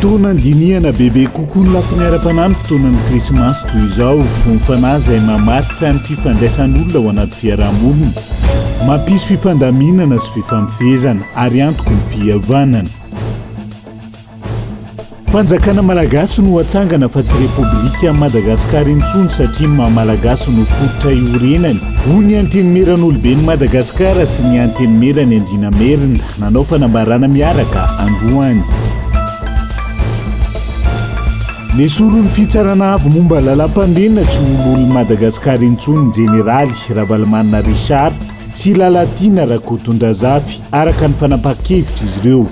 Toa nandinihana bebe kokoa ny lafiny ara-panahy ny fotoanan'ny Krismasy toy izao. Ho ny fanahy izay mamaritra ny fifandraisan'olona ao anaty fiaraha-monina. Mampisy fifandaminana sy fifamofohezana ary antoko ny fihavanana. Fanjakana malagasy no hatsangana fa tsy Repoblikan'i Madagasikara intsony satria ny maha malagasy no fototra iorenany, hoy ny Antenimieran'oloben'i Madagasikara sy ny Antenimieran'ny Andriana Merina. Nanao fanambarana miaraka androany. Nesoron'ny fitsarana avo momba lalam-pandriana tsy ho lolon'i Madagasikara intsony ny jeneraly Ravalomanana Richard sy Lalatiana Rakotondrazafy, araka ny fanapahan-kevitr'izy ireo.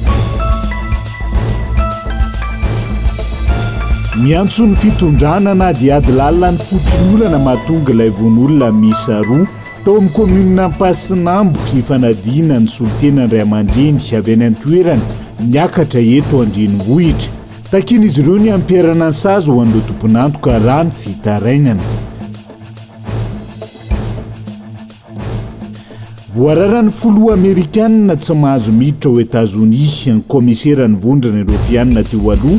Miantso ny fitondrana hanadihady lalina ny foton'olana mahatonga ilay vono olona miisa roa. Tao amin'ny kaominina Ampasinambo, hifanadina ny solontena ny ray aman-dreny avy any an-toerana niakatra eto an-drenivohitra. Takian'izy ireo ny hampiharana ny sazy ho an'ireo tompon'antoka raha ny fitarainana. Voararan'ny filoha amerikanina tsy mahazo miditra ao Etazonia ny kaomiseran'ny vondrona Eoropeanina teo aloha,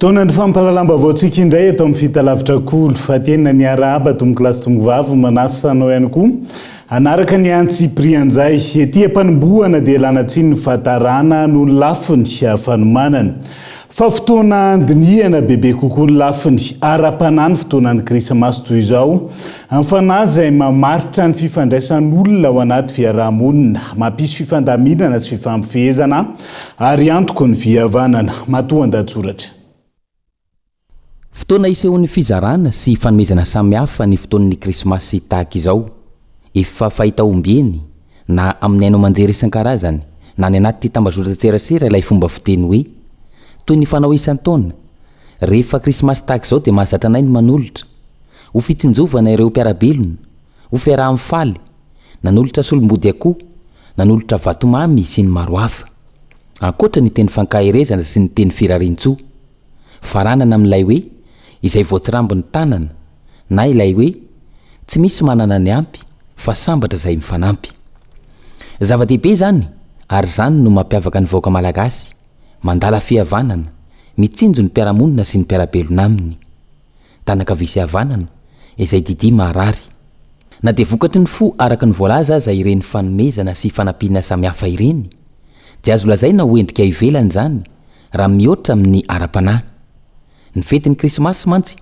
Fotoanan'ny fampahalalam-baovaontsika indray eto amin'ny Fitalavitra Kolo fa tena niarahaba tompoko lahy sy tompoko vavy manasa anao ihany koa hanaraka ny antsy Prianjay. Ety am-panombohana dia lana tsiny ny fahatarana noho ny lafiny fanomanana. Fa fotoana handinihana bebe kokoa ny lafiny ara-panahy ny fotoanan'ny Krismasy toy izao amin'ny fanahy izay mamaritra ny fifandraisan'olona ao anaty fiaraha-monina, mampisy fifandaminana sy fifampifehezana, Ary antoko ny vy havanana. Matoan-dahatsoratra. Fotoana isehoan'ny fizarana sy fanomezana samy hafa ny fotoan'ny Krismasy tahaka izao. Efa fahita ombieny, na amin'ny haino aman-jery isan-karazany, na any anaty tambazotran-tserasera ilay fomba fiteny hoe, Toy ny fanao isan-taona, rehefa Krismasy tahaka izao dia mahazatra anay ny manolotra. Ho fitsinjovana ireo mpiara-belona. Ho fiaraha-mifaly. nanolotra solombody akoho, nanolotra vatomamy sy ny maro hafa. Ankoatra ny teny fankaherezana sy ny teny firariantsoa. Faranana amin'ilay hoe izay voatsirambo ny tanana na ilay hoe tsy misy manana ny ampy fa sambatra izay mifanampy. Zava-dehibe izany ary izany no mampiavaka ny vahoaka malagasy, mandala fihavanana, mitsinjo ny mpiara-monina sy ny mpiara-belona aminy. tanak' havia sy havanana, izay didy maharary. Na dia vokatry ny fo araka ny voalaza aza ireny fanomezana sy fanampiana samihafa ireny, dia azo lazaina ho endrika ivelany izany raha mihoatra amin' ny ara-panahy. Ny fetin' ny Krismasy mantsy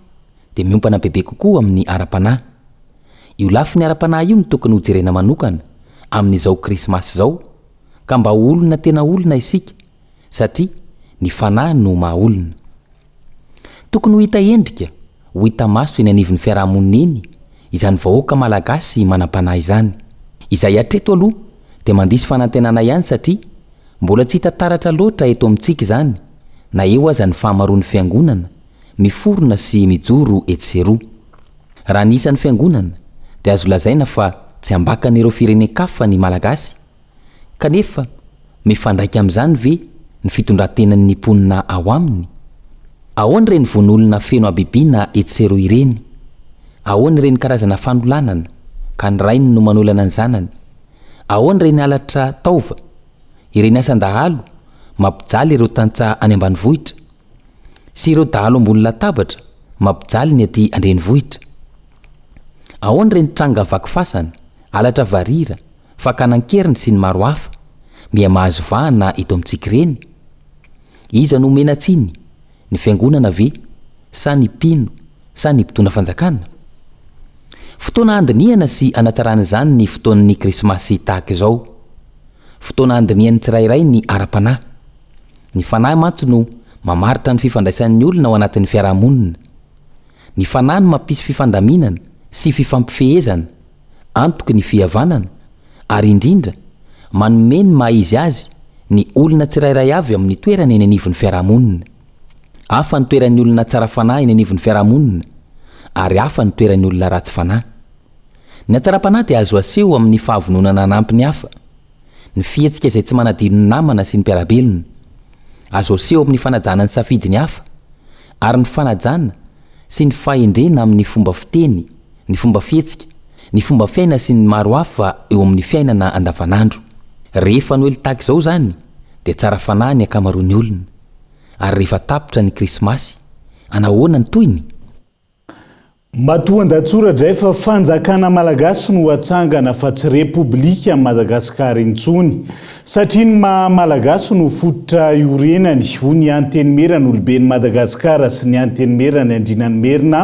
dia miompana bebe kokoa amin' ny ara-panahy. Io lafiny ara-panahy io no tokony hojerena manokana amin' izao Krismasy izao, ka mba ho olona tena olona isika, satria ny Fanahy no maha-olona. Tokony ho hita endrika, ho hita maso eny anivon'ny fiarahamonina eny izany vahoaka Malagasy manam-panahy izany. Izay hatreto aloha dia mandiso fanantenana ihany satria mbola tsy hita taratra loatra eto amintsika izany na eo aza ny fahamaroan'ny fiangonana miforona sy mijoro etsy sy eroa. Raha ny isan'ny fiangonana dia azo lazaina fa tsy ambakan'ireo firenen-kafa ny Malagasy. Kanefa, mifandraika amin'izany ve ny fitondran-tenan'ny mponina ao aminy? Ahoana ireny vono-olona feno habibiana etsy sy eroa ireny? Ahoana ireny karazana fanolanana, ka ny rainy no manolana ny zanany? Ahoana ireny halatra taova, ireny asan-dahalo mampijaly ireo tantsaha any ambanivohitra? Sy ireo dahalo ambony latabatra mampijaly ny aty an-drenivohitra? Ahoana ireny tranga vaky fasana, halatra varira, Fakana an-keriny sy ny maro hafa, miha mahazo vahana eto amintsika ireny? Iza no omena tsiny, ny fiangonana ve, sa ny mpino, sa ny mpitondra fanjakana? Fotoana handinihana sy hanatsarana izany ny fotoan'ny Krismasy tahaka izao. Fotoana handinihan'ny tsirairay ny ara-panahy. Ny fanahy mantsy no mamaritra ny fifandraisan'ny olona ao anatin'ny fiarahamonina. Ny fanahy no mampisy fifandaminana sy fifampifehezana. antoky ny fihavanana, ary indrindra, manome ny maha-izy azy ny olona tsirairay avy amin'ny toerany eny anivon'ny fiarahamonina. Hafa ny toeran'ny olona tsara fanahy eny anivon'ny fiarahamonina, ary hafa ny toeran'ny olona ratsy fanahy. Ny hatsaram-panahy dia azo aseho amin'ny fahavononana hanampy ny hafa, ny fihetsika izay tsy manadino ny namana sy ny mpiara-belona. Azo aseho amin'ny fanajana ny safidy ny hafa, ary ny fanajana sy ny fahendrena amin'ny fomba fiteny, ny fomba fihetsika, ny fomba fiaina sy ny maro hafa eo amin'ny fiainana andavanandro. Rehefa noely tahaka izao izany dia tsara fanahy ny ankamaroan'ny olona. Ary rehefa tapitra ny krismasy, anahoana ny tohiny? Matoandatsoratra izay fa fanjakana malagasy no hatsangana fa tsy repoblika an'i Madagasikara intsony. Satria ny maha Malagasy no fototra iorenany, hoy ny Antenimieran' oloben' i Madagasikara sy ny Antenimieran' Andriana ny Merina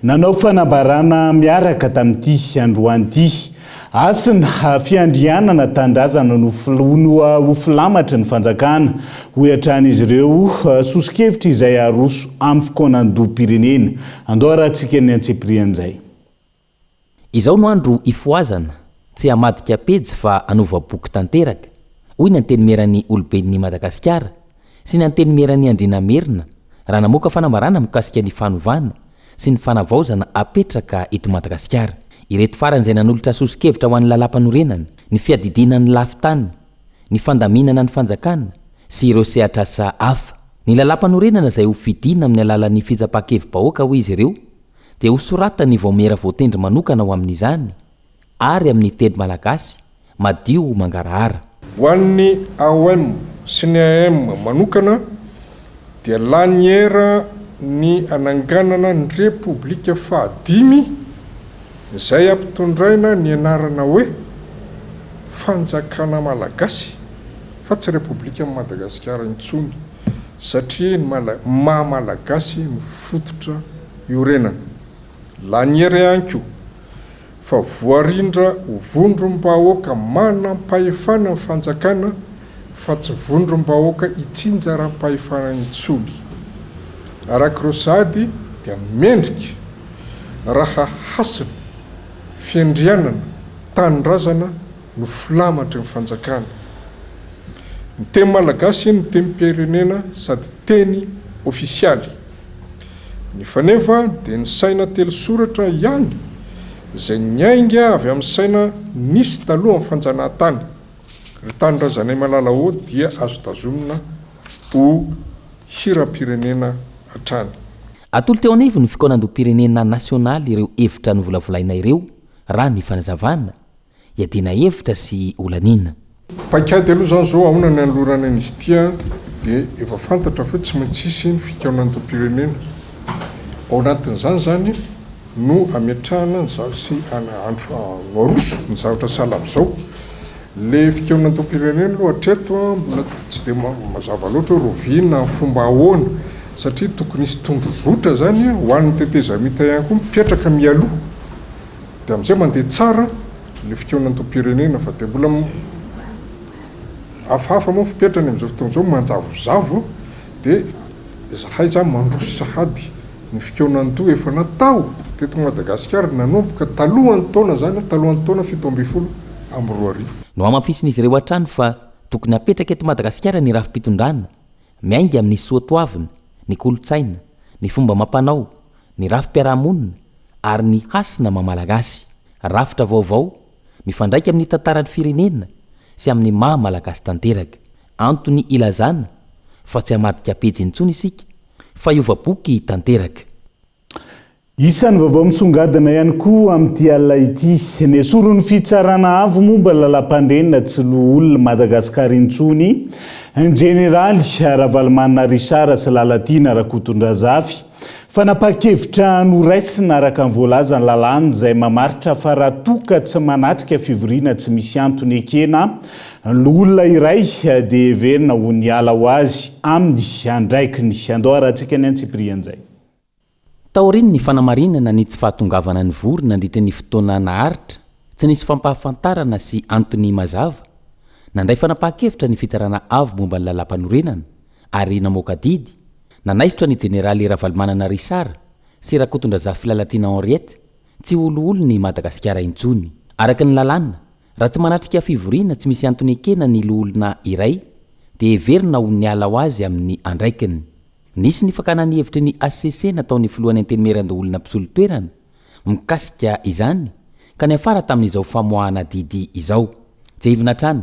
nanao fanambarana miaraka tamin' ity androany ity. Hasina, fiandrianana Tanindrazana no ho filamatry ny fanjakana, hoy hatrany izy ireo, soso-kevitra izay aroso amin'ny fikaonandoham-pirenena. Andao harahantsika ny antsipiriany izay. Izao no andro hifohazana, tsy hamadika pejy fa hanova boky tanteraka, hoy ny Antenimieran'ny Oloben'ny Madagasikara sy ny Antenimieran'ny Andriana Merina raha namoaka fanambarana mikasika ny fanovana sy ny fanavaozana hapetraka eto Madagasikara. Ireto farany izay nanolotra soso-kevitra ho an'ny Lalàmpanorenana, ny fiadidiana ny lafin-tany, ny fandaminana ny fanjakana sy ireo sehatr'asa hafa. Ny Lalàmpanorenana izay ho fidina amin'ny alalan'ny fitsapan-kevi-bahoaka, hoy izy ireo, dia ho soratan'ny vaomiera voatendry manokana ho amin'izany ary amin'ny teny malagasy madio mangarahara. Ho an'ny AOM sy ny AM manokana dia laniera ny hananganana ny Repoblika fahadimy izay ampitondraina ny anarana hoe Fanjakana Malagasy fa tsy Repoblikan'i Madagasikara intsony. satria ny maha malagasy no fototra iorenana. Laniera ihany koa fa voarindra ho vondrom-bahoaka manam-pahefana ny fanjakana fa tsy vondrom-bahoaka itsinjaram-pahefana intsony. Araka ireo sahady dia mendrika raha hasina fiandrianana tanindrazana no filamatry ny fanjakana. Ny teny malagasy no tenim-pirenena sady teny ofisialy. Nefa anefa dia ny saina telo soratra ihany izay niainga avy amin'ny saina nisy talohan'ny fanjanahantany. Ry tanindrazanay malala ô dia azo tazomina ho hiram-pirenena hatrany. Atolo teo anivon'ny fikaonandoham-pirenena nasionaly ireo hevitra novolavolaina ireo, raha ny fanazavana. Iadiana hevitra sy olaniana. Paikady aloha izany izao aona ny hanolorana an'izy ity an, dia efa fantatra fa tsy maintsy hisy ny fikaonandoham-pirenena. Ao anatin'izany izany no hametrahana ny zavatra sy andro no aroso ny zavatra sahala amin'izao. Ilay fikaonandoham-pirenena aloha hatreto mbola tsy dia mazava loatra hoe roviana amin'ny fomba ahoana satria tokony hisy tondrozotra izany ho an'ny tetezamita ihany koa mipetraka mialoha. Dia amin'izay mandeha tsara ilay fikaonan'Antom-pirenena fa dia mbola hafahafa moa ny fepetrany amin'izao fotoana izao, manjavozavo dia izahay izany mandroso sahady ny fikaonan'Anto efa natao teto Madagasikara nanomboka talohan'ny taona izany, talohan'ny taona fito ambin'ny folo amby roa arivo. Nohamafisin'izy ireo hatrany fa tokony hapetraka eto Madagasikara ny rafi-pitondrana miainga amin'ny soatoavina, ny kolontsaina, ny fomba amam-panao, ny rafi-piarahamonina ary ny hasina maha-malagasy, rafitra vaovao mifandraika amin'ny tantaran'ny firenena sy amin'ny maha-malagasy tanteraka. Antony ilazana fa tsy hamadika pejy intsony isika fa hiova boky tanteraka. Isan'ny vaovao misongadina ihany koa amin'ity alina ity, nesorin'ny Fitsarana Avo momba ny Lalampandriana tsy loholona Madagasikara intsony, Injeneraly Ravalomanana Richard sy Lalatiana Rakotondrazafy, Fanapahan-kevitra noraisina araka ny voalazan'ny lalàna izay mamaritra fa raha toa ka tsy manatrika fivoriana tsy misy antony ekena ny loholona iray dia heverina ho niala ho azy amin'ny andraikiny. Andao harahantsika ny antsipirian'izay. Taorian'ny fanamarinana ny tsy fahatongavana nivory nandritra ny fotoana naharitra, tsy nisy fampahafantarana sy antony mazava, nandray fanapahan-kevitra ny Fitsarana Avo momba ny Lalàmpanorenana, ary namoaka didy, nanaisotra ny Jeneraly Ravalomanana Richard sy Rakotondrazafy Filalatiana Henriette tsy ho loholon' i Madagasikara intsony. Araka ny lalàna, raha tsy manatrika fivoriana tsy misy antony ekena ny loholona iray dia heverina ho niala ho azy amin' ny andraikiny. Nisy ny fakana ny hevitry ny hcc nataon' ny Filohan' ny Antenimierandoholona mpisolo toerana mikasika izany ka niafara tamin' izao famoahana didy izao. Tsy haivina hatrany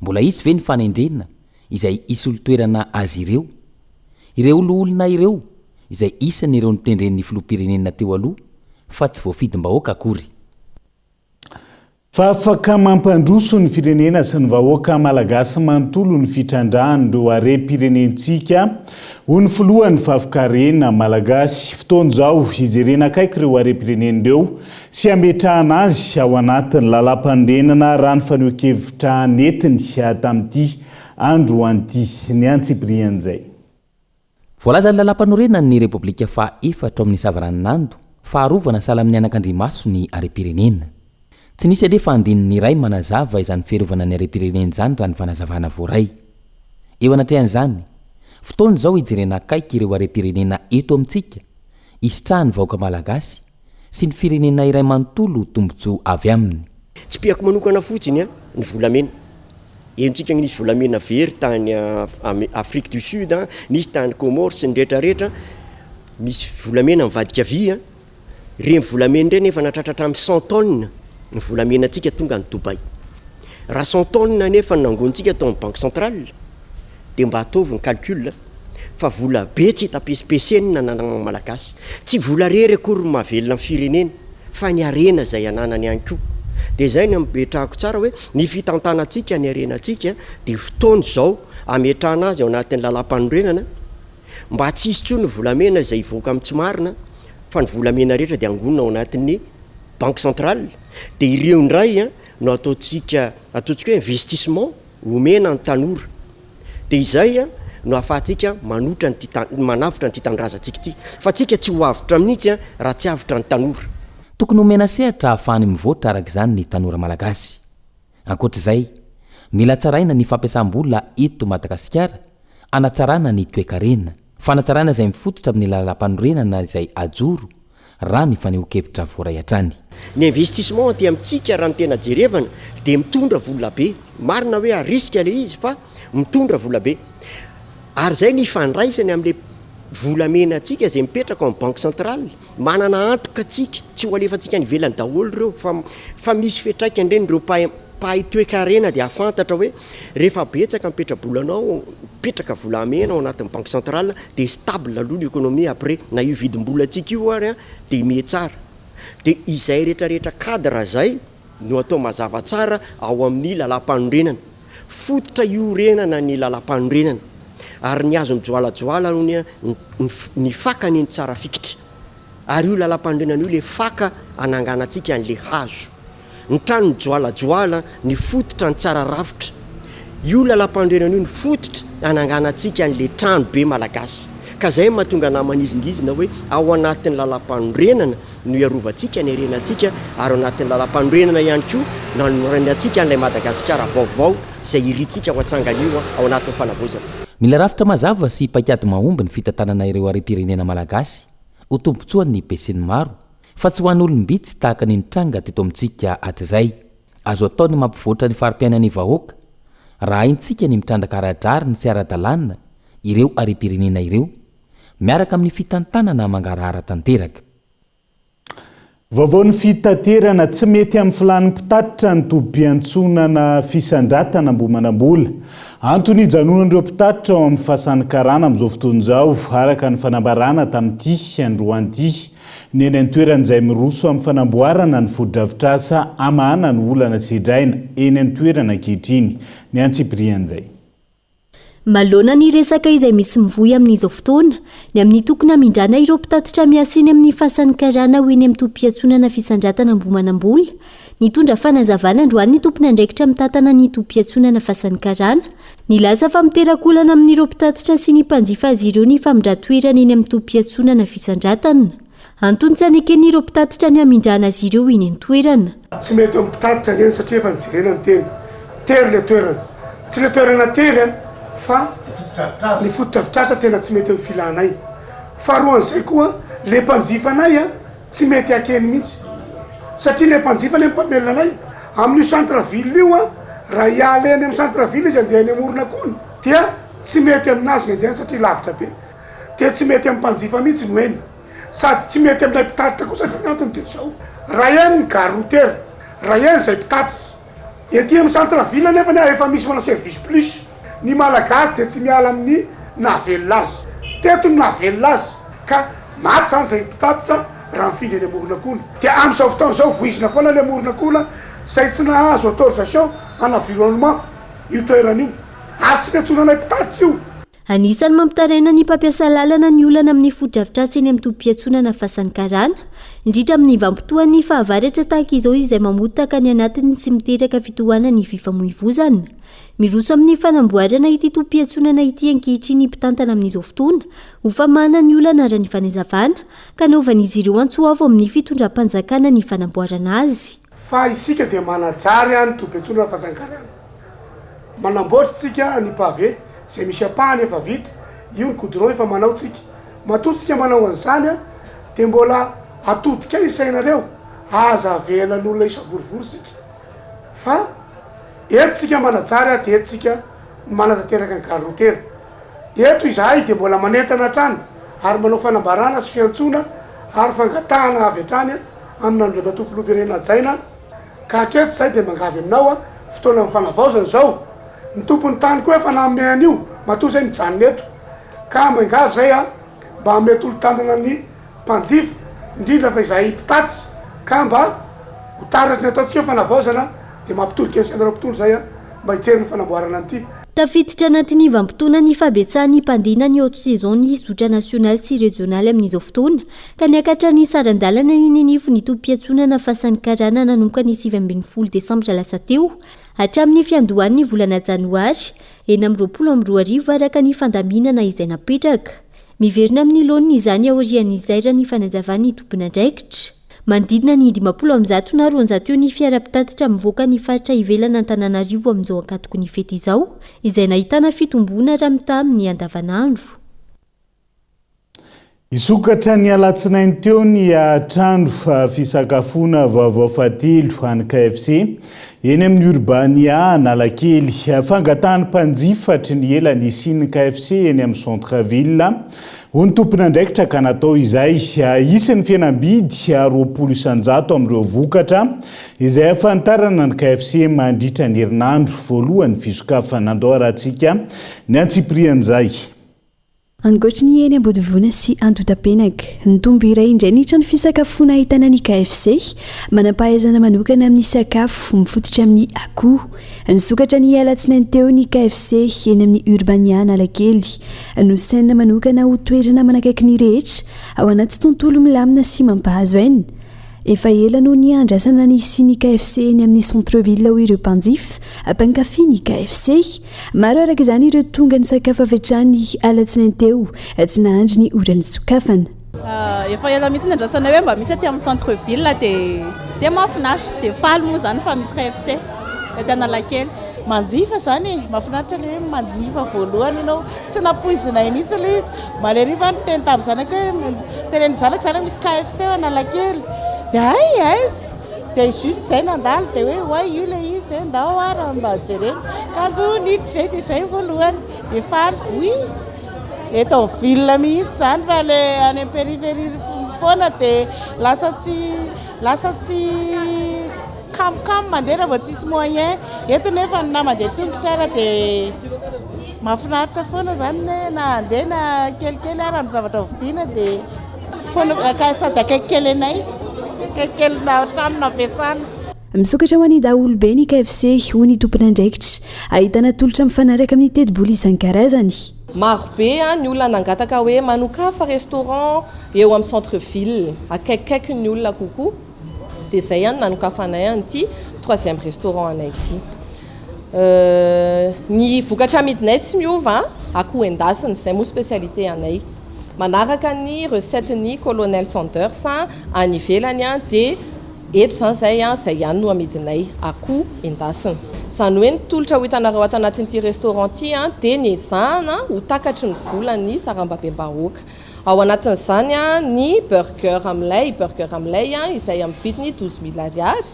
Mbola hisy ve ny fanendrena izay hisolo toerana azy ireo? Ireo loholona ireo izay isany ireo notendren'ny filoham-pirenena teo aloha fa tsy voafidim-bahoaka akory. Fa afaka mampandroso ny firenena sy ny vahoaka malagasy manontolo ny fitrandrahan'ireo harem-pirenentsika, hoy ny filohan'ny Fafkarena malagasy. Fotoana izao hijerena akaiky ireo harem-pirenena ireo sy hametrahana azy ao anatin'ny lalàmpanorenana raha ny fanehoan-kevitra nentiny tamin'ity andro anty niantsipirihany izay. Voalazan'ny lalàmpanorenan'ny Repoblika faha efatra ao amin'ny Savaranonando fa arovana sahala amin'ny anakandrimaso ny harem-pirenena. Tsy nisy alefa andininy iray manazava izany fiarovana ny harem-pirenena izany raha ny fanazavana voaray. Eo anatrehan'izany, fotoana izao hijerena akaiky ireo harem-pirenena eto amintsika, hisitrahan'ny vahoaka malagasy, sy ny firenena iray manontolo ho tombontsoa avy aminy. Tsipihako manokana fotsiny ny volamena. Henontsika ny nisy volamena very tany Afrique du Sud, nisy tany Comores sy ny rehetra rehetra. Misy volamena mivadika vy. Ireny volamena ireny efa nahatratra hatramin'ny cent tonnes ny volamenantsika tonga any Dubaï. Raha cent tonnes anefa no nangonintsika tao amin'ny Banque Centrale, Dia mba ataovy ny calcul fa vola be tsy hita pesipesenina ananagna ny Malagasy. Tsy vola rery akory no mahavelona ny firenena fa ny harena izay ananany ihany koa. Dia izay no ametrahako tsara hoe ny fitantanantsika ny harenantsika dia fotoana izao ametrahana azy ao anatin'ny lalam-panorenana mba tsy hisy intsony ny volamena izay hivoaka amin'ny tsy marina fa ny volamena rehetra dia angonina ao anatin'ny banque centrale dia ireo indray no ataontsika, ataontsika hoe investissement. Omena ny tanora. Dia izay no ahafahantsika manotra an'ity ta, manavotra an'ity tanindrazantsika ity. Fa tsika tsy ho avotra mihitsy raha tsy avotra ny tanora. Tokony omena sehatra ahafahany mivoatra araka izany ny tanora malagasy. Ankoatra izay, mila tsaraina ny fampiasam-bola eto Madagasikara hanatsarana ny toekarena. Fanatsarana izay mifototra amin'ny lalampanorenana izay hajoro, raha ny fanehoan-kevitra voaray hatrany. Ny investissement aty amintsika raha ny tena jerevana dia mitondra vola be. Marina hoe à risque ilay izy fa mitondra vola be. Ary izay ny ifandraisany amin'ilay volamena antsika izay mipetraka ao amin'ny banque centrale. Manana antoka tsika, tsy ho alefantsika any ivelany daholo ireo fa fa misy fiantraikany ireny, ireo mpahay mpahay toekarena dia hahafantatra hoe rehefa betsaka ny petrabolanao, mipetraka volamena ao anatin'ny banque centrale dia stable aloha ny economie après na io vidim-bolantsika io ary dia mihatsara, dia izay retraretra cadre izay. no atao mazava tsara ao amin'ny Lalàmpanorenana, fototra iorenana ny Lalàmpanorenana, ary ny hazo mijoalajoala honia ny fakany no tsara fikitra, ary io Lalàmpanorenana io ilay faka hananganantsika an'ilay hazo. Ny trano mijoalajoala ny fototra ny tsara rafitra, io Lalàmpanorenana io no fototra hananganantsika an'ilay trano be Malagasy, ka izay no mahatonga anà manizingizina hoe ao anatin'ny Lalàmpanorenana, no hiarovantsika ny harenantsika ary ao anatin'ny Lalampanorenana ihany koa no hanorenantsika an'ilay Madagasikara vaovao izay irintsika ho atsangany io ao anatin'ny fanavaozana. Mila rafitra mazava sy paikady mahomby ny fitantanana ireo harem-pirenena malagasy ho tombontsoan'ny besinimaro fa tsy ho an'olom-bitsy tahaka ny nitranga teto amintsika hatrizay. Azo atao ny mampivoatra ny fari-piainan'ny vahoaka raha haintsika ny mitrandraka ara-drariny sy ara-dalàna ireo harem-pirenena ireo. miaraka amin'ny fitantanana mangarahara tanteraka. Vaovaon'ny fitaterana, tsy mety amin'ny filàn'ny mpitatitra ny tobim-piantsonana fisandratana ambohimanambola. Antony hijanonan'ireo mpitatitra ao amin'ny fasan'ny karana amin'izao fotoana izao, araka ny fanambarana tamin'ity androany ity ny eny an-toerana izay miroso amin'ny fanamboarana ny fotodrafitrasa hamahana ny olana sedraina eny an-toerana ankehitriny ny antsipirihan'izay Manoloana ny resaka izay misy mivoy amin'izao fotoana, ny amin'ny tokony hamindrana ireo mpitatitra miasa eny amin'ny fasan'ny karana ho eny amin'ny tobim-piantsonana fisandratana Ambohimanambola, nitondra fanazavana androany ny tompon'andraikitra mitantana ny tobim-piantsonana fasan'ny karana. Nilaza fa miteraka olana amin'ireo mpitatitra sy ny mpanjifa azy ireo ny famindran-toerana eny amin'ny tobim-piantsonana fisandratana. Antontsa nekeny ireo mpitatitra ny hamindrana azy ireo eny an-toerana. Tsy mety amin'ny mpitatitra ny eny satria efa nijerena ny teny. Tery ilay toerana. Tsy ilay toerana tery an, fa ny fotodrafitrasa tena tsy mety amin'ny filanay. Faharoan'izay koa, ilay mpanjifa anay an, tsy mety hakeny mihitsy. Satria ilay mpanjifa ilay mpamelona anay. Amin'io centre ville io an, raha hiala eny amin'ny centre ville izy handeha eny Amorona koa ny dia tsy mety aminazy ny handeha any satria lavitra be. dia tsy mety amin'ny mpanjifa mihitsy ny hoe ny, sady tsy mety amin'ilay mpitatitra koa satria ny antony dia izao, raha eny ny gare routière, raha eny izay mpitatitra. Ety amin'ny centre ville anefa ny ahy efa misy manao service plus. Ny Malagasy dia tsy miala amin'ny nahavelona azy. Teto no nahavelona azy ka maty izany izay mpitatitra raha mifindra eny amoron'akohona. Dia amin'izao fotoana izao voizina foana ilay amoron'akohona izay tsy nahazo autorisation en environnement io toerana io, ary tsy mety zonanay mpitatitra io. Anisan'ny mampitaraina ny mpampiasa lalana ny olana amin'ny fotodrafitrasa eny amin'ny tobim-piantsonana Fasan'ny Karana, indrindra amin'ny vanimpotoan'ny fahavaratra tahaka izao izay mamotaka ny anatiny sy miteraka fitohanan'ny fifamoivozana. Miroso amin'ny fanamboarana ity tobim-piantsonana ity ankehitriny ny mpitantana amin'izao fotoana ho famahana ny olana ara-ny fanazavana ka anaovan'izy ireo antso avo amin'ny fitondram-panjakana ny fanamboarana azy. Fa isika dia manajary any tobin-tsolon' ny fazan-karana. Manamboatra tsika ny pavé izay misy ampahany efa vita, io ny goudron efa manao tsika. Matoa tsika manao an'izany an, dia mbola atodika eo isainareo, aza avela ny olona hisavorovoro sika. Fa eto tsika manajary ary dia eto tsika no manatanteraka ny gare routière. Eto izahay dia mbola manentana hatrany ary manao fanambarana sy fiantsoana ary fangatahana avy hatrany an, amina andriamatoa filoham-pirenena hajaina ka hatreto izahay dia mangavy aminao fotoanan'ny fanavaozana izao ny tompon'ny tany koa efa nanome an'io matoa izay mijanona eto ka mangavy izahay mba hanome tolo-tanana ny mpanjifa indrindra fa izahay mpitatitra ka mba ho taratry ny ataontsika fanavaozana dia mampitolo-kevitra anareo mpitondra izahay mba hijery ny fanamboarana an'ity Tafiditra anatin'ny vanimpotoana ny fahabetsahan'ny mpandina ny haute saison ny zotra nasionaly sy rejionaly amin'izao fotoana Ka niakatra ny saran-dalana iny anivon' ny tobim-piantsonana Fasan'ny Karana nanomboka ny sivy ambin'ny folo desambra lasa teo, hatramin'ny fiandohan'ny volana janoary enina amby roapolo amby roa arivo araka ny fandaminana izay napetraka. Miverina amin'ny laoniny izany aorian'ny izairan'ny fanazavan'ny tomponandraikitra. Manodidina ny dimampolo amin'ny zato na roanjato eo ny fiara mpitatitra mivoaka ny faritra ivelan' Antananarivo amin'izao ankatoky ny fety izao, izay nahitana fitomboana raha mitaha amin'ny andavanandro. Hisokatra ny alatsinainy teo ny trano fisakafoana vaovao fahatelo an'ny KFC, eny amin'ny Urbania Analakely. Fangatahan'ny mpanjifa hatry ny ela nisian'ny KFC eny amin'ny Centre Ville, hoy ny tompon'andraikitra ka natao izay. Hisy ny fihenam-bidy roapolo isan-jato amin'ireo vokatra izay hahafantarana ny KFC mandritra ny herinandro voalohan'ny fisokafana. Andao arahantsika ny antsipirihan'izay. Ankoatry ny eny Ambodivoana sy Andotapenaka, nitombo iray indray ny trano fisakafoana ahitana ny KFC, manam-pahaizana manokana amin'ny sakafo mifototra amin'ny akoho. Nisokatra ny alatsinainy teo ny KFC eny amin'ny Urbania Analakely. Nosainina manokana ho toerana manakaiky ny rehetra, ao anaty tontolo milamina sy mampahazo aina. Efa ela no niandrasana ny hisian'ny KFC eny amin'ny Centre Ville hoy ireo mpanjifa, mpankafy ny KFC. Maro araka izany ireo tonga nisakafo avy hatrany alatsinainy teo, tsy nahandry ny ora nisokafana. Efa ela mihitsy niandrasanay hoe mba misy aty amin'ny Centre Ville dia dia mahafinaritra, dia faly moa izany fa misy KFC ety Analakely. Manjifa izany e! Mahafinaritra ilay hoe manjifa voalohany ianao Tsy nampoizinay mihitsy ilay izy. Maleriva aho niteny tamin'ny zanako hoe, tenen'ny zanako izany hoe misy KFC ao Analakely. Dia hay aiza? Dia juste izay nandalo dia hoe oay io ilay izy dia hoe ndao ary mba jerena. Kanjo niditra izay dia izay ny voalohany. Dia faly. Oui, eto amin'ny ville mihitsy izany fa ilay any amin'ny périphérie foana dia lasa tsy, lasa tsy kamokamo mandeha raha vao tsisy moyen. Eto nefa na mandeha tongotra ara dia. Mahafinaritra foana zany ny hoe na handeha na kelikely ary amin'ny zavatra hovidiana dia foana ka sady akaikikely anay, akaikikely na trano navesana. Misokatra ho an'ny daholobe ny KFC, hoy ny tompon'andraikitra. Ahitana tolotra mifanaraka amin'ny tetibola isan-karazany. Marobe ny olona nangataka hoe manokafa restaurant eo amin'ny centre ville, akaikikaiky ny olona kokoa. dia izay ihany nanokafanay an'ity troisième restaurant anay ity. Ny vokatra amidinay tsy miova, akoho endasina, izay moa spécialité anay. Manaraka ny recette ny Colonel Sanders any ivelany dia eto izany izay izay ihany no amidinay, akoho endasina. Izany hoe ny tolotra ho hitanareo ato anatin'ity restaurant ity dia ny ezahana ho takatry ny volan'ny sarambabem-bahoaka. Ao anatin'izany ny burger amin'ilay burger amin'ilay izay amin'ny vidiny douze mille ariary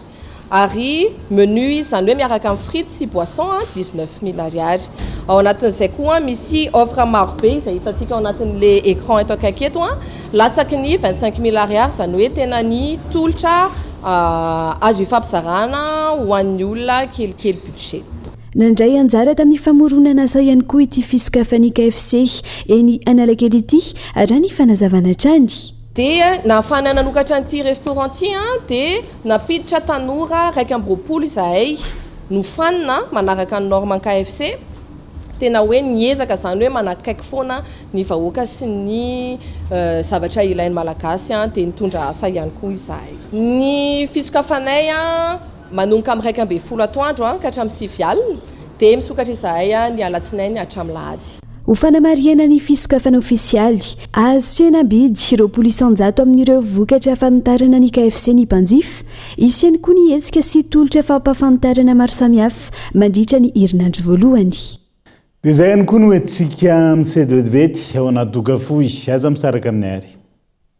ary menu izy izany hoe miaraka amin'ny frites sy boisson dix-neuf mille ariary. Ao anatin'izay koa misy offre maro be izay hitantsika ao anatin'ilay écran eto akaiky eto latsaky ny vingt-cinq mille ariary izany hoe tena ny tolotra azo ifampizarana ho an'ny olona kelikely budget. Nandray anjara tamin'ny famoronana asa ihany koa ity fisokafan'ny KFC eny Analakely ity, raha ny fanazavana hatrany. Dia nahafahana nanokatra an'ity restaurant ity dia nampiditra tanora iraika amby roapolo izahay nofanina manaraka ny normes KFC. Tena hoe niezaka izany hoe manakaiky foana ny vahoaka sy ny zavatra ilain'ny Malagasy dia nitondra asa ihany koa izahay. Ny fisokafanay. Manomboka amin'ny iraika ambin'ny folo atoandro ka hatramin'ny sivy alina, dia misokatra izahay ny alatsinainy hatramin'ny lahady. Ho fanamarihana ny fisokafana ofisialy, azo tsena am-bidy roapolo isan-jato amin'ireo vokatra hafantarana ny KFC ny mpanjifa. Hisy ihany koa ny hetsika sy tolotra fampahafantarana maro samihafa mandritra ny herinandro voalohany. Dia izay ihany koa no hoentintsika misedy vetivety ao anaty doka fohy. Aza misaraka aminay àry.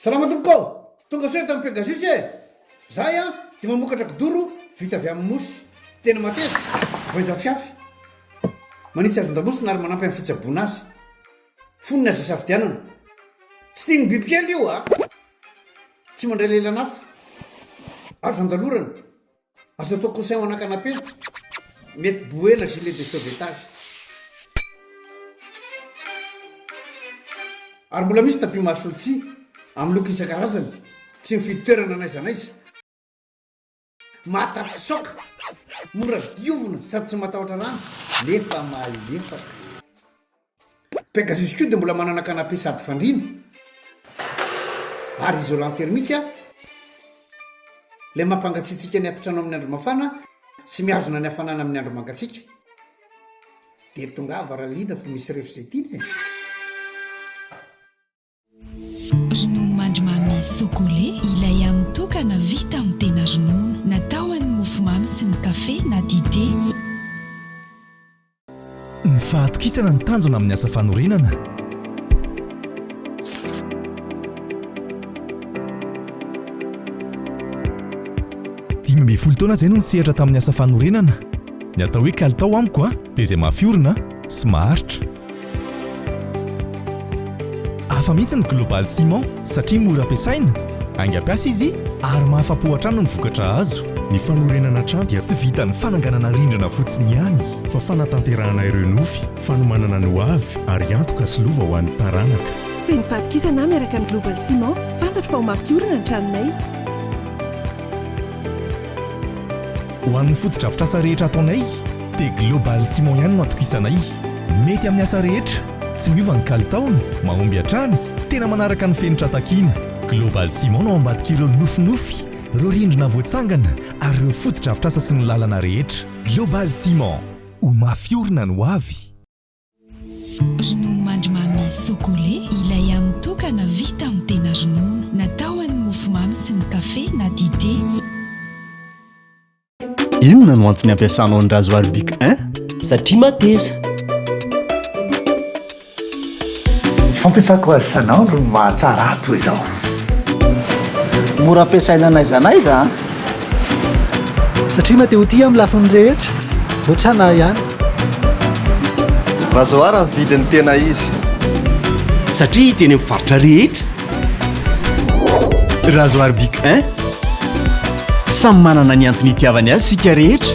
Salama tompoko ô! Tonga soa eto amin'ny Pegasus e! Zahay an, dia mamokatra kidoro vita avy amin'ny mosy, tena mateza, voainjafyafy. Manitsy hazan-damosina ary manampy amin'ny fitsaboana azy. Fonony azo isafidianana. Tsy tian'ny bibikely io a! Tsy mandray lelan'afo. Azo andalorana. Azo atao coussin ho an'akanapela. Mety bouée na gilet de sauvetage. Ary mbola misy tapis mahasolo-tsihy amin'ny loko isan-karazany, tsy mifidy toerana n'aiza n'aiza. Mahatapitsoaka, mora diovina sady tsy matahotra rano nefa mahalefaka. Pegasus koa dia mbola manana canapé sady fandriana ary isolant thermique ilay mampangatsiatsiaka ny atitrano amin'ny andro mafana sy mihazona ny hafanana amin'ny andro mangatsiaka. Dia tongava Ralina fa misy refo izay tiana e! Ronono mandrimamy Socole, ilay hany tokana vita amin'ny tena ronono. Natao ho an'ny mofomamy sy ny kafe na dite. Ny fahatokisana ny tanjona amin'ny asa fanorenana. Dimy ambin'ny folo taona izay no nisehatra tamin'ny asa fanorenana. Ny atao hoe kalitao amiko dia izay mafiorina sy maharitra. Hafa mihitsy ny Global Ciment satria mora ampiasaina, aingam-piasa izy ary mahafa-po hatrany ny vokatra azo. Ny fanorenana trano dia tsy vitan'ny fananganana rindrina fotsiny ihany fa fanatanterahana ireo nofy, fanomanana ny hoavy ary antoka sy lova ho an'ny taranaka. Feno fatokisana aho miaraka amin'ny Global Ciment, fantatro fa ho mafy orina ny tranonay. Ho an'ny fotodrafitrasa rehetra ataonay dia Global Ciment ihany no atokisanay. Mety amin'ny asa rehetra, tsy miova ny kalitaony, mahomby hatrany, tena manaraka ny fenitra takiana. Global Ciment no ao ambadik'ireo nofinofy, ireo rindrina voatsangana ary ireo fotodrafitrasa sy ny lalana rehetra. Global Ciment, ho mafy orina ny hoavy! Ronono mandrimamy Socole, ilay hany tokana vita amin'ny tena ronono. Natao ho an'ny mofomamy sy ny kafe na dite. Inona no antony ampiasanao ny rasoir Bic 1? Satria mateza. Fampiasako azy isan'andro no mahatsara ahy toy izao. Mora ampiasaina n'aiza n'aiza. Satria mety ho tia amin'ny lafiny rehetra, hoatrana ahy ihany. Razoara ny vidin'ny tena izy. Satria hita eny amin'ny faritra rehetra. Razoara Bic 1. Samy manana ny antony itiavany azy isika rehetra.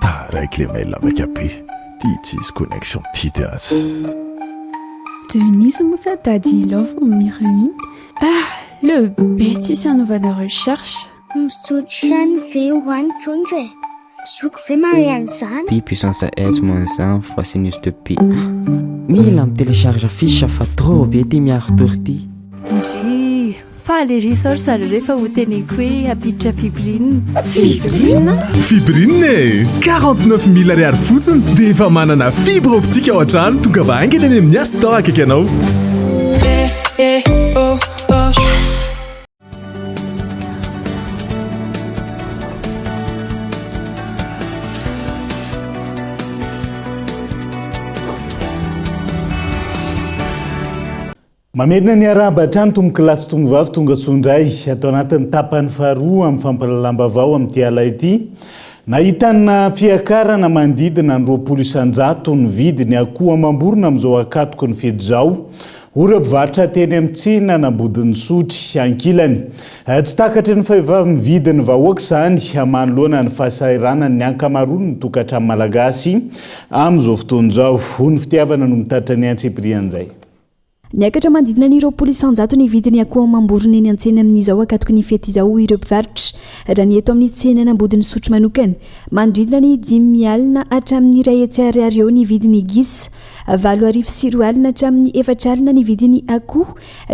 Taraiky le mail maika be Ty tsisy connexion ty de as Denise moa sa Daddy Love no Mireline Ah le be tsisy hanaovana recherche Misotro ihany ve ho any trondro e? Zoky ve mahay an'izany? Pi puissance S moins 1 fois sinus de pi Mila mi-telecharge fiche fa trop be ty miaro tory ty. Ndrii. Faly ery izao ry zareo rehefa ho teneniko hoe hampiditra Fibrin. Fibrin? Fibrin e! 49 mille ariary fotsiny dia efa manana fibre optique ao an-trano. Tongava haingana any amin'ny Yas Store akaiky anao. Eh, eh, oh. Mamerina ny arahaba hatrany tompokolahy sy tomovavy tonga soa indray ato anatin'ny tapany faharoa amin'ny fampahalalam-baovao amin'ity ala ity. Nahitana fiakarana manodidina ny roapolo isan-jato ny vidin'ny akoho amam-borona amin'izao ankatoky ny fety izao, hoy ireo mpivarotra teny amin'ny tsenan'Ambodin'Isotry. Ankilany, tsy takatry ny fahevam-vidin'ny vahoaka izany manoloana ny fahasahiranan'ny ankamaroan'ny tokantrano malagasy amin'izao fotoana izao. Hoy ny fitiavana no mitatitra ny antsipiriany izay. Niakatra manodidina ny roapolo isan-jato ny vidin'ny akoho amam-borona eny an-tsena amin'izao ankatoky ny fety izao, hoy ireo mpivarotra. Raha ny eto amin'ny tsenan'Ambodin'Isotry manokana, manodidina ny dimy alina hatramin'ny iray hetsy ariary eo ny vidin'ny gisa, valo arivo sy roa alina hatramin'ny efatra alina ny vidin'ny akoho,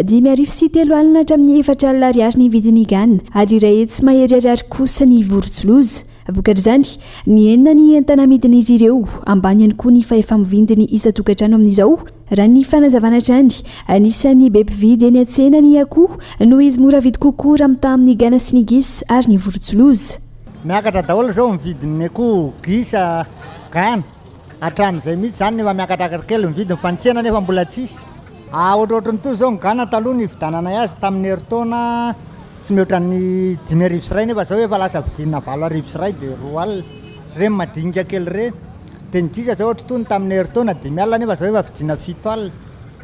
dimy arivo sy telo alina hatramin'ny efatra alina ariary ny vidin'ny gana ary iray hetsy mahery ariary kosa ny vorontsiloza. Vokatr'izany, nihena ny entana amidin'izy ireo, ambany ihany koa ny fahefa-mivindy ny isan-tokantrano amin'izao. Raha ny fanazavana hatrany, anisan'ny be mpividy eny an-tsena ny akoho noho izy mora vidy kokoa raha mitaha amin'ny gana sy ny gisa ary ny vorontsiloza. Miakatra daholo izao ny vidin'ny akoho, gisa, gana. Hatramin'izay mihitsy izany no efa miakatrakatra kely ny vidiny fa ny tsena anefa mbola tsisy. Ohatrohatry ny toy izao ny gana taloha nividananay azy tamin'ny herintaona tsy mihoatra ny dimy arivo sy iray nefa izao efa lasa vidina valo arivo sy iray dia roa alina. Ireny madinika kely ireny. Teny Giza zao ohatry tony tamin'ny herintaona dimy alina nefa zao efa vidiana fito alina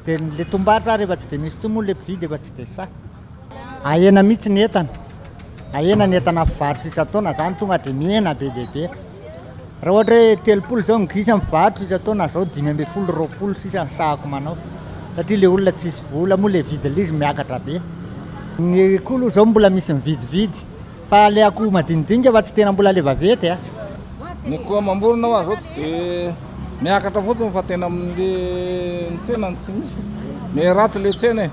dia ny le tombarotra ary efa tsy dia misy intsony moa le mpividy efa tsy dia sahy ahena mihitsy ny entana ahena ny entana mpivarotra isan-taona zany tonga dia mihena be dia be raha ohatra hoe telopolo zao ny gisa mivarotra isan-taona zao dimy ambin'ny folo roapolo sisa ny sahako manao satria le olona tsisy vola moa le vidin'izy miakatra be ny koa aloha zao mbola misy mividividy Fa le akoho madinidinika fa tsy tena mbola le vavety a. Ny akoho amam-borona hoa zao tsy de miakatra fotsiny fa tena amle ny tsena no tsy misy. Me ratsy le tsena e.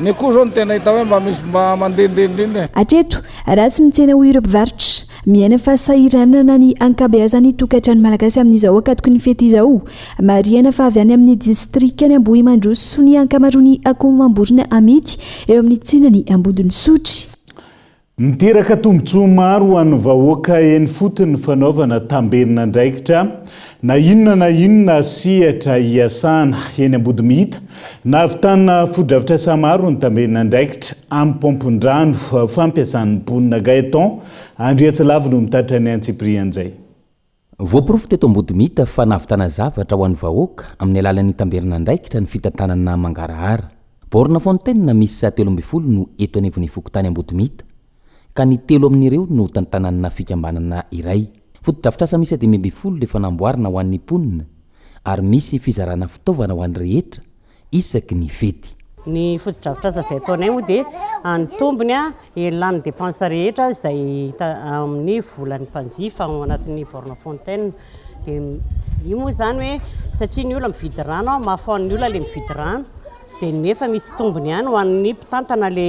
Ny akoho zao no tena hita hoe mba misy mba mandehandeha indrindra e. Hatreto, ratsy ny tsena hoy ireo mpivarotra. Miaina fahasahiranana ny ankabeazan'ny tokantrano malagasy amin'izao ankatoky ny fety izao. Marihana fa avy any amin'ny distrikan'i Ambohimandroso ny ankamaroan'ny akoho amam-borona amidy eo amin'ny tsenan'i Ambodin'Isotry. Niteraka tombontsoa maro ho an'ny vahoaka eny fotony ny fanaovana tambenandraikitra na inona na inona sehatra iasana eny Ambodimihita. Nahavitana fotodrafitrasa maro ny tambenandraikitra amin'ny paompin-drano fampiasan'ny mponina. Gaëtan Andriatsilavy no mitatra ny antsipirihan'izay. Voaporofo teto Ambodimita fa nahavitana zavatra ho an'ny vahoaka amin'ny alalan'ny tamberin'andraikitra ny fitantanana mangarahara. Borne fontaine miisa telo ambin'ny folo no eto anivon'ny fokontany Ambodimita, ka ny telo amin'ireo no tantananna fikambanana iray. Fotodrafitrasa miisa dimy ambin'ny folo efa namboarina ho an'ny mponina ary misy fizarana fitaovana ho an'ny rehetra isaky ny fety. Ny fotodrafitrasa izay ataonay moa dia any tombony eny lany depense rehetra izay hita amin'ny volan'ny mpanjifa ao anatin'ny borne fontaine dia io moa izany hoe satria ny olona mividy rano aho mafy hoan'ny olona le mividy rano dia nefa misy tombony ihany ho an'ny mpitantana le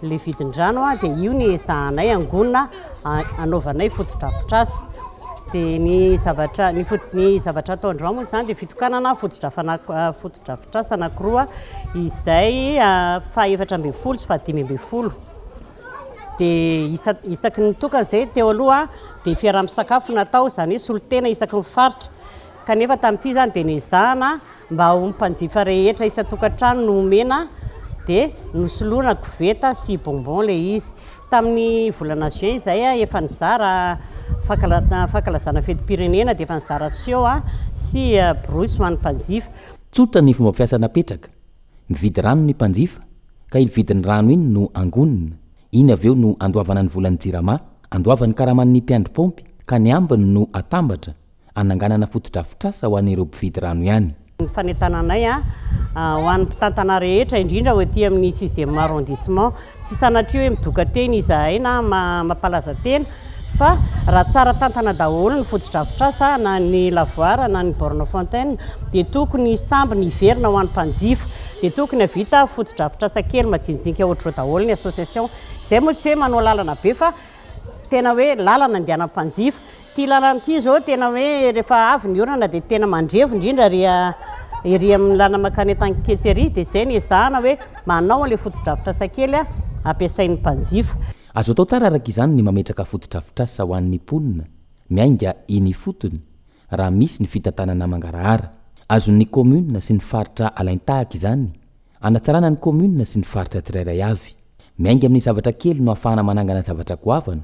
le vidin-drano dia io ny ezahanay angonina anaovanay fotodrafitrasa dia ny zavatra ny foto ny zavatra ataondreo moa izany dia fitokanana fotodrafana fotodrafitrasa anakiroa izay fahefatra ambin'ny folo sy fahadimy ambin'ny folo dia isa isaky ny tokana izay teo aloha dia fiaraha-misakafo natao izany hoe solotena isaky ny faritra kanefa tamin'ity izany dia nezahana mba ho mpanjifa rehetra isan-tokantrano no omena dia nosoloana koveta sy bonbon le izy tamin'ny volana juin izay efa nizara fankalazana fetim-pirenena dia efa nizara siô sy borosy ho an'ny mpanjifa Tsotra ny fomba fiasa napetraka, mividy rano ny mpanjifa ka iny vidin'ny rano iny no angonina, iny avy eo no andoavana ny volan'ny jirama, andoavany karaman'ny mpiandry paompy ka ny ambiny no atambatra hananganana fotodrafitrasa ho an'ireo mpividy rano ihany. Ny fanentananay ho an'ny mpitantana rehetra, indrindra ho ety amin'ny sixième arrondissement, tsy sanatria hoe midoka teny izahay na mampalaza tena fa raha tsara tantana daholo ny fotodrafitrasa na ny lavoir na ny borne fontaine dia tokony hisy tambiny hiverina ho an'ny mpanjifa, dia tokony havita fotodrafitrasa kely majinijinika ohatr'izao daholo ny association, izay moa tsy hoe manao lalana be fa tena hoe lalana andehanan'ny mpanjifa. Ity lalana ity izao tena hoe rehefa avy ny orana dia tena mandrevo indrindra ary ery amin'ny lalana mankany Antaniketsy ery dia izay no ezahana hoe manao an'ilay fotodrafitrasa kely ampiasain'ny mpanjifa. Azo atao tsara araka izany ny mametraka fotodrafitrasa ho an'ny mponina miainga eny ifotony raha misy ny fitantanana mangarahara. Azon'ny kaominina sy ny faritra alain-tahaka izany Hanatsarana ny kaominina sy ny faritra tsirairay avy. Miainga amin'ny zavatra kely no ahafahana manangana zavatra goavana,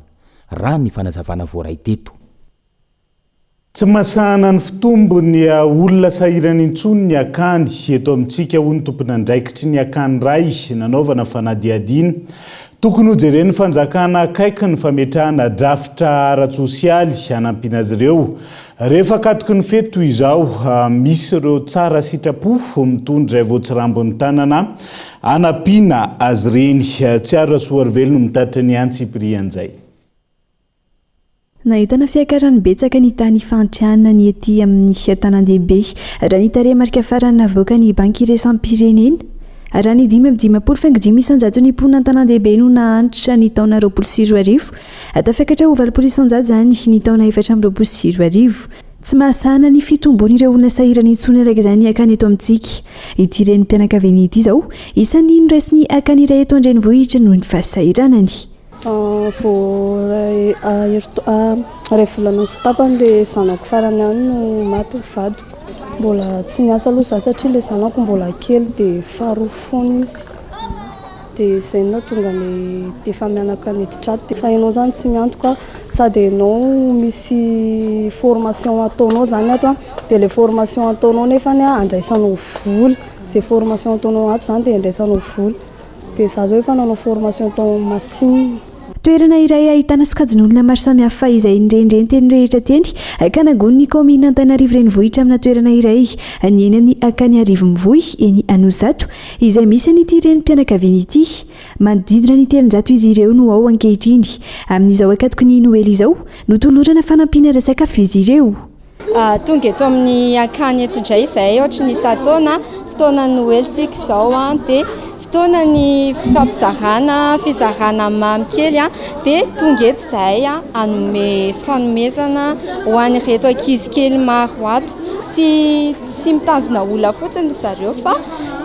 raha ny fanazavana voaray teto. Tsy masahana ny fitombon'ny olona sahirana intsony ny akany eto amintsika, hoy ny tomponandraikitry ny akany iray nanaovana fanadihadiana. Tokony hojeren'ny fanjakana akaiky ny fametrahana drafitra ara-tsosialy hanampiana azy ireo. Rehefa akatoky ny fety toy izao, misy ireo tsara sitrapo mitondra izay voatsirambin'ny tanana hanampiana azy ireny. Tsiaro Rasoarovelo no mitatitra ny antsipirihan'izay. Nahitana fiakarany betsaka ny tany ifahantrana ny ety amin'ny tanàndehibe, raha ny tarehimarika farany navoakan'ny Banky Iraisam-pirenena. Raha ny dimy amby dimampolo faingo dimy isan-jato ny mponina an-tanàndehibe no nahantra ny taona roapolo sy roa arivo, tafakatra ho valopolo isan-jato izany ny taona efatra amby roapolo sy roa arivo. Tsy mahasahana ny fitombon'ireo olona sahirana intsony araka izany akany eto amintsika ity renim-pianakaviana ity izao, isan'ny noraisin'ny akany iray eto an-drenivohitra noho ny fahasahiranany. Vao iray volana sy tapany ilay zanako farany ihany no maty ny vadiko. Mbola tsy niasa aloha izaho satria ilay zanako mbola kely dia faharoa fony izy. Dia izay no nahatonga ny dia efa mianaka niditra ato. Fa ianao izany tsy miantoka sady ianao misy formation ataonao izany ato dia ilay formation ataonao nefany andraisanao vola. Izay formation ataonao ato izany dia andraisanao vola. Dia za zao efa nanao formation tao amin'ny machine. Toerana iray ahitana sokajin'olona maro samihafa izay nirenireny teny rehetra teny ka nangono ny kaominina Antananarivo Renivohitra amina toerana iray ny eny amin'ny Akaniarivo-Mivoy eny Anosizato izay misy an'ity renim-pianakaviana ity. Manodidina ny telonjato izy ireo no ao ankehitriny. Amin'izao ankatoky ny Noely izao no tolorana fanampiana ara-tsakafo izy ireo. Tonga eto amin'ny akany eto indray izahay ohatry ny isan-taona, fotoana noelintsika izao dia fotoana ny fifampizarana, fizarana mamy kely dia tonga eto izahay hanome fanomezana ho an'ireto ankizy kely maro ato. Tsy mitazona olona fotsiny ry zareo fa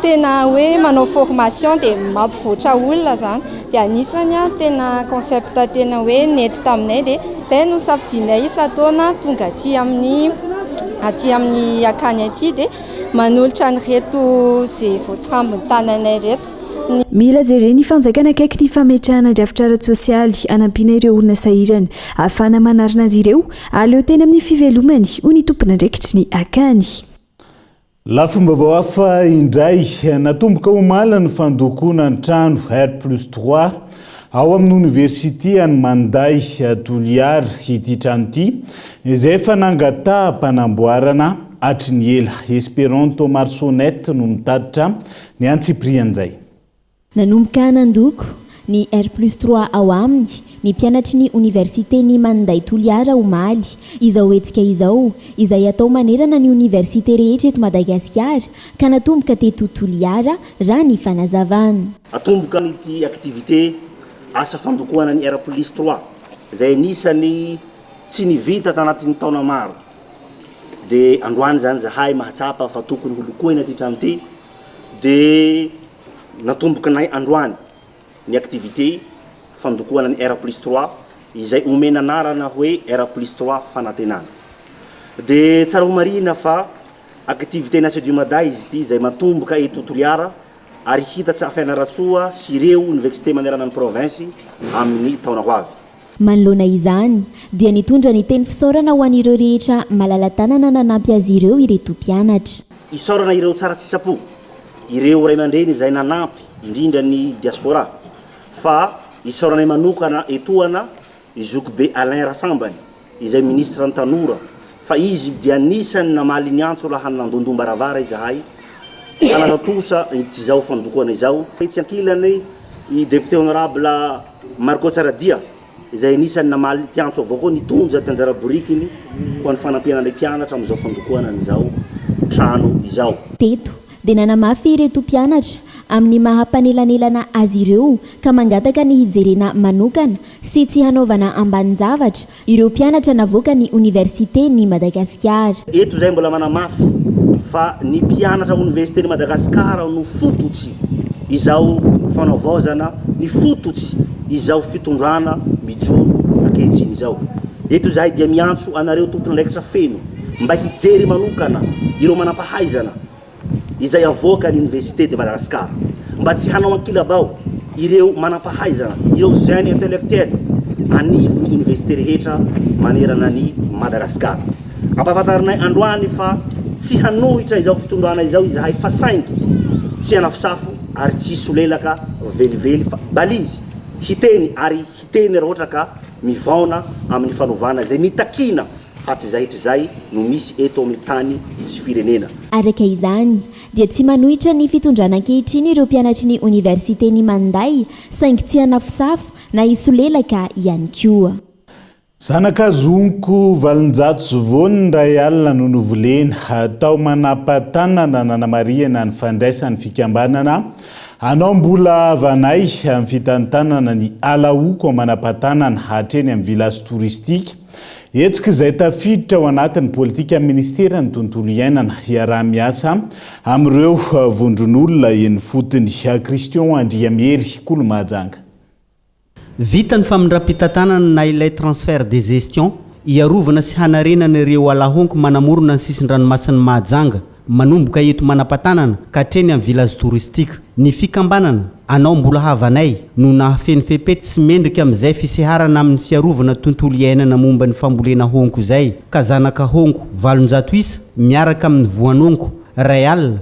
tena hoe manao formation dia mampivoatra olona izany. Dia anisany an tena concept tena hoe nety taminay dia izay no safidianay isan-taona tonga aty amin'ny aty amin'ny akany aty dia manolotra an'ireto izay voatsirambin'ny tananay ireto ny. Mila jeren'ny fanjakana akaiky ny fametrahana drafitra ara-tsosialy hanampiana ireo olona sahirana ahafahana manarina azy ireo, aleo teny amin'ny fivelomany, hoy ny tompon'andraikitry ny akany. Lafim-baovao hafa indray, natomboka omaly ny fandokoana ny trano R plus trois ao amin'ny Oniversity an'i Manday Toliara ity trano ity izay efa nangataham-panamboarana hatry ny ela. Esperanto Marsonet no nitatitra ny antsipirian'izay. Nanomboka nandoko ny R plus trois ao aminy ny mpianatry ny Oniversiten'i Maninday Toliara omaly izao hetsika izao izay atao manerana ny Oniversite rehetra eto Madagasikara ka natomboka teto Toliara raha ny fanazavan. Atomboka an'ity activité asa fandokoana ny R plus trois izay anisan'ny tsy nivita tanatin'ny taona maro dia androany izany izahay mahatsapa fa tokony ho lokoina ity trano ity dia Natombokanay androany ny activité fandokoana ny R plus trois izay omena anarana hoe R plus trois fanantenana. Dia tsara ho marihina fa activité ny Asedio Mada izy ity izay matomboka eto Toliara ary hitatsa Fianarantsoa sy ireo Univexite manerana ny province amin'ny taona ho avy. Manoloana izany, dia nitondra ny teny fisaorana ho an'ireo rehetra malala-tanana nanampy azy ireo ireto mpianatra. Isaorana ireo tsara tsy sapo, ireo ray aman-dreny izay nanampy, indrindra ny diaspora, fa isaoranay manokana etoana i Zokibe Alain Rasambany, izay minisitran'ny Tanora, fa izy dia anisan'ny namaly ny antso laha nandondom-baravara izahay ka nanao trosa izao fandokoana izao. Etsy ankilany, i Député Honorable. Marco Tsaradia, izay anisan'ny namaly ity antso avao koa nitondra ity anjara borikiny ho an'ny fanampiana ny mpianatra amin'izao fandokoana an'izao trano izao. Teto dia nanamafy ireto mpianatra amin'ny maha mpanelanelana azy ireo ka mangataka ny hijerena manokana sy tsy hanaovana ambanin-javatra Ireo mpianatra navoaka ny Oniversite ny Madagasikara. Eto izay mbola manamafy fa ny mpianatra Onivesite ny Madagasikara no fototsy izao fanavaozana, ny fototsy izao fitondrana mijoro ankehitriny izao. Eto izahay dia miantso anareo tompon'andraikitra feno mba hijery manokana ireo manampahaizana izay avoaka ny Université de Madagascar mba tsy hanao ankilabao ireo manampahaizana, ireo jeunes intellectuels anivon'ny Université rehetra manerana an'i Madagasikara. Ampahafantarinay androany fa tsy hanohitra izao fitondrana izao izahay fa saingy tsy hanafosafo ary tsy hisolelaka velively fa balizy hiteny ary Teny raha ohatra ka mivaona amin'ny fanovana izay nitakiana hatrizay hatrizay no misy eto amin'ny tany sy firenena. Araka izany, dia tsy manohitra ny fitondrana ankehitriny ireo mpianatry ny oniversiten'i Mandai, saingy tsy hanafosafo na hisolelaka ihany koa. Zanaka zonko valonjato sy voany ny iray alina no novolena, tao Manapatanana, nanamarihana ny fandraisan'ny fikambanana Anao mbola havanay amin'ny fitantanana ny Ala Oko Manam-patanana hatreny amin'ny Village Touristique. Hetsika izay tafiditra ao anatin'ny politikan'ny Ministeran'ny Tontolo Iainana hiaraha-miasa amin'ireo vondron'olona eny ifotony. Christian Andriamihery, Kolomahajanga. Vita ny famindram-pitantanana na ilay transfert de gestion hiarovana sy hanarenana ireo ala honko manamorona ny sisin-dranomasin'i Mahajanga, manomboka eto Manampatanana ka hatreny amin'ny village touristique. Ny fikambanana, Anao Mbola Havanay, no nahafeno fepetra sy mendrika amin'izay fiseharana amin'ny fiarovana tontolo iainana momba ny fambolena honko izay, ka zanaka honko valonjato isa miaraka amin'ny voan'honko iray alina,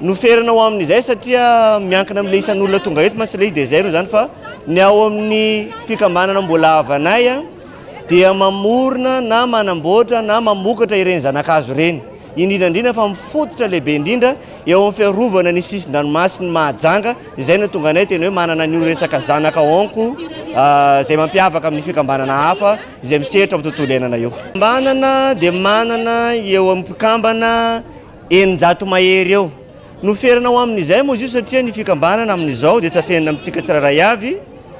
no ferana ho amin'izay satria miankina amin'ilay isan'olona tonga eto mantsy ilay izy dia izay no izany fa ny ao amin'ny fikambanana mbola havanay a dia mamorona na manamboatra na mamokatra ireny zanakazo ireny indrindra indrindra fa mifototra lehibe indrindra eo amin'ny fiarovana ny sisin-dranomasin'ny Mahajanga izay no tonga anay tena hoe manana an'io resaka zanaka onko izay mampiavaka amin'ny fikambanana hafa izay misehatra amin'ny tontolo iainana io. Fikambanana dia manana eo amin'ny mpikambana Eninjato mahery eo. Noferana ho amin'izay moa izy io satria ny fikambanana amin'izao dia tsy afenina amintsika tsirairay avy,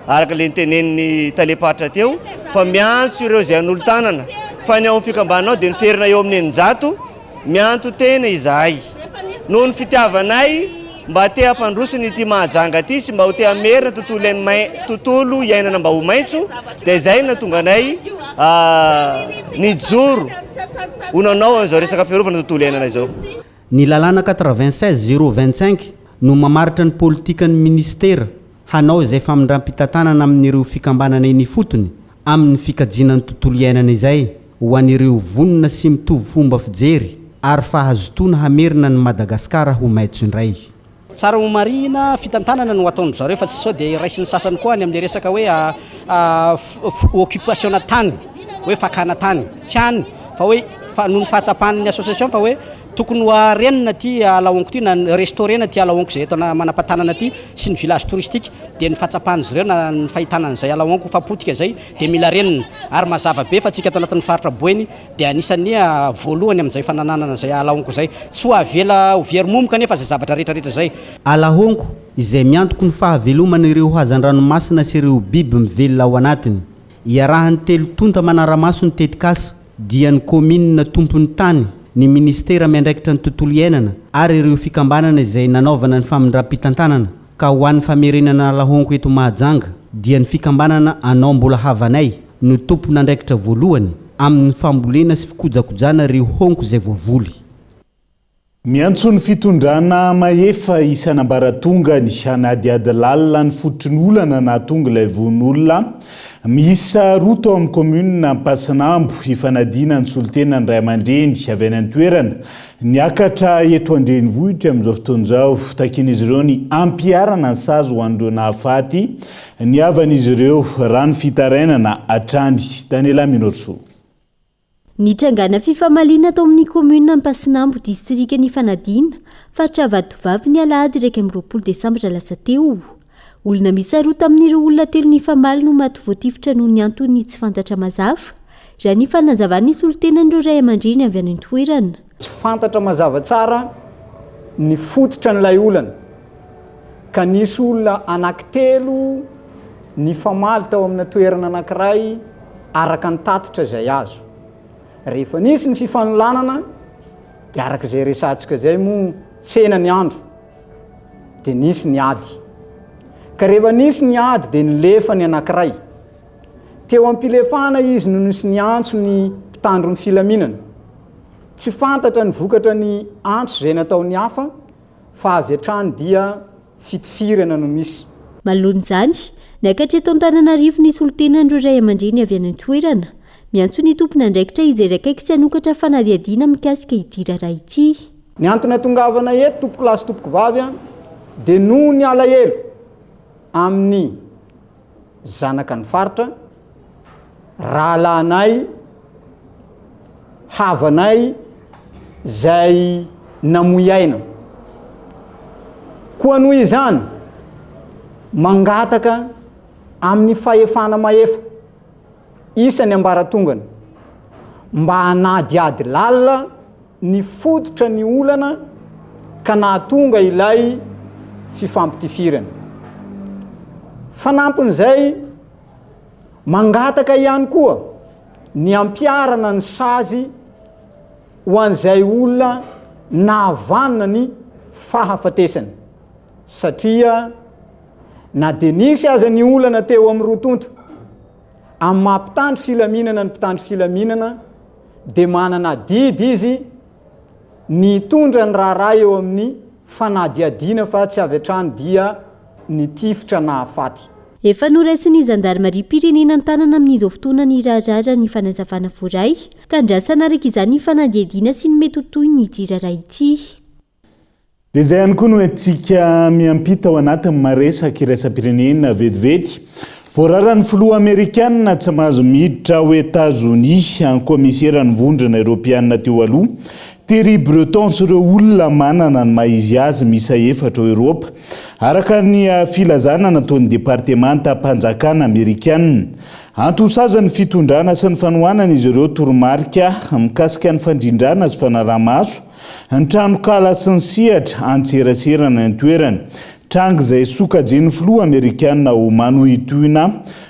araka ilay notenenin'ny talem-paritra teo fa miantso ireo izay hanolo-tanana, fa ny ao amin'ny fikambananao dia niferina eo amin'ny eninjato, mianto-tena izahay. Noho ny fitiavanay Mba te hampandroso ny ity Mahajanga ity sy mba ho te hamerina tontolo tontolo iainana mba ho maitso dia izay no nahatonga anay nijoro ho nanao an'izao resaka fiarovana ny tontolo iainana izao. Ny lalàna quatre-vingt-seize zéro vingt-cinq no mamaritra ny politikan'ny minisitera. hanao izay famindram-pitantanana amin'ireo fikambanana eny ifotony amin'ny fikajiana ny tontolo iainana izay ho an'ireo vonona sy mitovy fomba fijery ary fahazotoana hamerina an'i Madagasikara ho maitso indray. Tsara ho marihina, fitantanana no ataon-dry zareo fa tsy sao dia raisin'ny sasany koa any amin'ilay resaka hoe occupation-na tany, hoe fakana tany. Tsy any, fa hoe noho ny fahatsapan'ny association fa hoe Tokony ho arenina ty Alaonko ty, na restaurena ty Alaonko izay eto manampatanana ty sy ny village touristique, dia ny fahatsapan'izy ireo na ny fahitana an'izay Alaonko fa potika izay dia mila renina, ary mazava be fa tsika ato anatin'ny faritra Boeny dia anisan'ny voalohany amin'izay fanananana izay Alaonko izay, tsy ho avela ho very momoka anefa izay zavatra rehetra rehetra izay. Alaonko izay miantoky ny fahaveloman'ireo hazandranomasina sy ireo biby mivelona ao anatiny, iarahan'ny telo tonta manara-maso ny tetikasa, dia ny kaominina tompon'ny tany, ny minisitera miandraikitra ny tontolo iainana ary ireo fikambanana izay nanaovana ny famindram-pitantanana ka ho an'ny famerenana ala honko eto Mahajanga dia ny fikambanana Anao Mbola Havanay no tompon'andraikitra voalohany amin'ny fambolena sy fikojakojana ireo honko izay voavoly. Miantso ny fitondrana mahefa isan'ambaratongany hanadihady lalina ny fototry ny olana nahatonga ilay vono olona miisa roa tao amin'ny kaominina Ampasinambo hifanadihana ny solontenan'ny ray aman-dreny avy any an-toerana niakatra eto an-drenivohitra amin'izao fotoana izao. Takian'izy ireo ny hampiharana ny sazy ho an'ireo nahafaty ny havan'izy ireo raha ny fitarainana hatrany tany Ilay Minorisoa. Nitrangana fifamaliana tao amin'ny kaominina Ampasinambo, distrikan' i Fanadina, faritra Vatovavy, ny alahady iraika amby roapolo desambra lasa teo. Olona miisa roa tamin'ireo olona telo nifamaly no maty voatifitra noho ny antony tsy fantatra mazava, raha ny fanazavan'ny solontenan'ireo ray aman-dreny avy any an-toerana. Tsy fantatra mazava tsara ny fototra an'ilay olana ka nisy olona anankitelo nifamaly tao amina toerana anankiray araka ny tatitra izay azo. Rehefa nisy ny fifanolanana dia araka izay resahantsika izay moa tsena ny andro dia nisy ny ady. Ka rehefa nisy ny ady dia nilefa ny anankiray. Teo am-pilefana izy no nisy niantso ny mpitandro ny filaminana. Tsy fantatra ny vokatra ny antso izay nataon'ny hafa fa avy hatrany dia fitifirana no misy. Manoloana izany, niakatra eto Antananarivo ny solontenan'ireo ray aman-dreny avy any an-toerana. Miantso ny tompon'andraikitra hijery akaiky sy hanokatra fanadihadiana mikasika ity raharaha ity. Ny antony atongavana eto tompokolahy sy tompokovavy dia noho ny alahelo amin'ny. zanaka ny faritra, rahalahinay, havanay zay namoy aina. Koa noho izany, mangataka amin'ny fahefana mahefa isan'ny ambaratongany mba hanadihady lalina Nifototra ny olana ka nahatonga ilay fifampitifirana. Fanampin'izay, mangataka ihany koa ny hampiharana ny sazy ho an'izay olona nahavanona ny fahafatesany satria na dia nisy aza ny olana teo amin'ny roa tonta amin'ny maha mpitandro filaminana ny mpitandro filaminana, dia manana adidy izy ny hitondra ny raharaha eo amin'ny fanadihadiana fa tsy avy hatrany dia nitifitra nahafaty. Efa noraisin'ny zandarimariam-pirenena an-tanana amin'izao fotoana ny raharaha ny fanazavana voaray ka andrasana araka izany ny fanadihadiana sy ny mety ho tohin'ity raharaha ity. Dia izay ihany koa no entintsika miampita ao anatin'ny maresak iraisam-pirenena vetivety. Voararan'ny filoha amerikana tsy mahazo miditra ao Etazonia ny kaomiseran'ny vondrona eropeana teo aloha, Thierry Breton sy ireo olona manana ny maha izy azy miisa efatra ao Eropa, araka ny filazana nataon'ny departemantam-panjakana amerikana. Anty ho sazy ny fitondrana sy ny fanohanana izy ireo toromarika mikasika ny fandrindrana sy fanaraha-maso Ny tranonkala sy ny sehatra antserasera ny an-toerana. Tranga izay sokajian'ny filoha amerikana ho manohitohina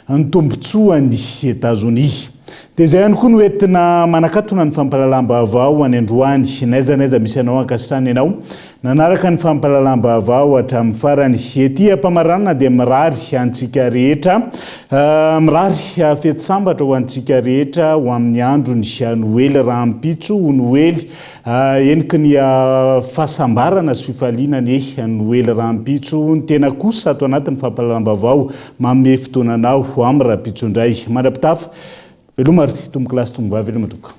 ny tombontsoan'i Etazonia. Dia izay ihany koa no entina manakatona ny fampahalalam-baovao any androany. N'aiza n'aiza misy anao ankasitrana ianao nanaraka ny fampahalalam-baovao hatramin'ny farany. Ety am-pamaranana dia mirary antsika rehetra Mirary fety sambatra ho antsika rehetra ho amin'ny andron'ny Noely rahampitso ho Noely heniky ny fahasambarana sy fifaliana anie ny Noely rahampitso ny tena kosa ato anatin'ny fampahalalam-baovao manome fotoana anao ho amin'ny rahampitso indray mandra-pitafa veloma ry tompokolahy sy tompokovavy veloma tompoko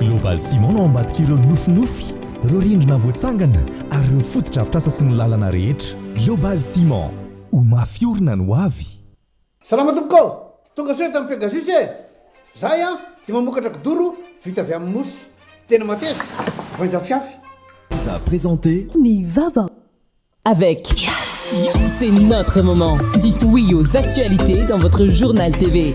Global Ciment no ambadik'ireo nofinofy, ireo rindrina voatsangana ary ireo fotodrafitrasa sy ny lalana rehetra. Global Ciment, ho mafy orina ny hoavy! Salama tompoko ô! Tonga soa eto amin'ny Pegasus e! Zahay an dia mamokatra kidoro vita avy amin'ny mosy tena mateza, voainjafiafy. Vous a présenté Ny vava avec C'est notre moment! Dites oui aux actualités dans votre journal TV.